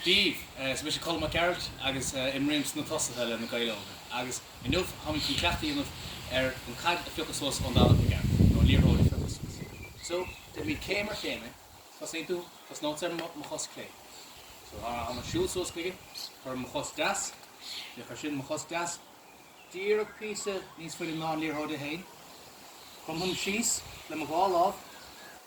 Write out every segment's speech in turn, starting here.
díobh. Is mise Colm Mac Gearailt agus imrím sna tosaithe le Na Gaeil Óga agus inniu táimid chun ceacht a dhéanamh ar an gcaid a phiocadh suas ón dtalamh le gearradh, nó an liathróid a phiocadh suas. So, déanfaimid céim ar chéim é. Tosnaíonn tú, tosnóidh mise ar mo chos chlé. So, mar a tháim ag siúl suas chuige, cuirim mo chos deas, cuirimse mo chos deas díreach píosa níos faide ná an liathróid é féin. Cromaim síos le mo dhá lámh.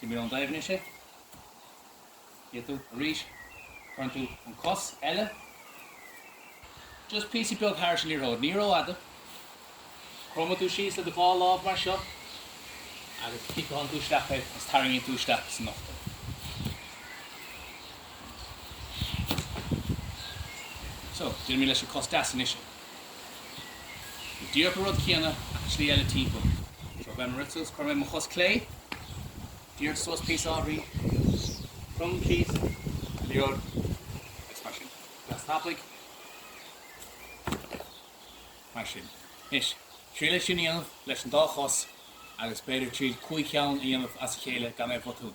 Liathróid ón dtalamh isteach chugat. Arís, cuireann tú an chos eile just píosa beag thairis an liathróid, ní rófhada. Cromann tú síos le do dhá lámh mar seo agus ciceálann tú isteach é agus tarraingíonn tú isteach san ucht é. So, déanfaimid leis an gcos deas anois é. Go díreach an rud céanna ach an tslí eile timpeall. So ag rith suas, cuirim mo chos clé, díreach suas píosa ábhairín, crom síos, liathróid, agus mar sin. Deas tapaidh, mar sin. Anois, triail é sin a dhéanamh leis an dá chos agus b'fhéidir triail cúig cheann a dhéanamh as a chéile gan aon bhotún.